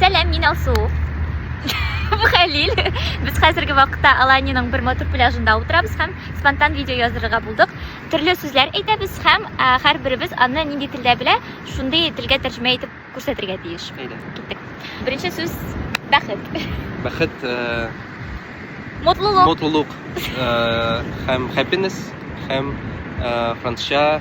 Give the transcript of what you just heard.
Сәлам, мин Алсу. Бу Хәлил. Без хәзерге вакытта Аланиның бер матур пляжында утырабыз һәм спонтан видео язырга булдык. Төрле сүзләр әйтәбез һәм һәрберебез аны нинди телдә белә, шундый телгә тәрҗемә итеп күрсәтергә тиеш. Әйдә. Киттек. Беренче сүз бәхет. Бәхет э, Мотлылык. Мотлылык э, һәм happiness һәм э, французча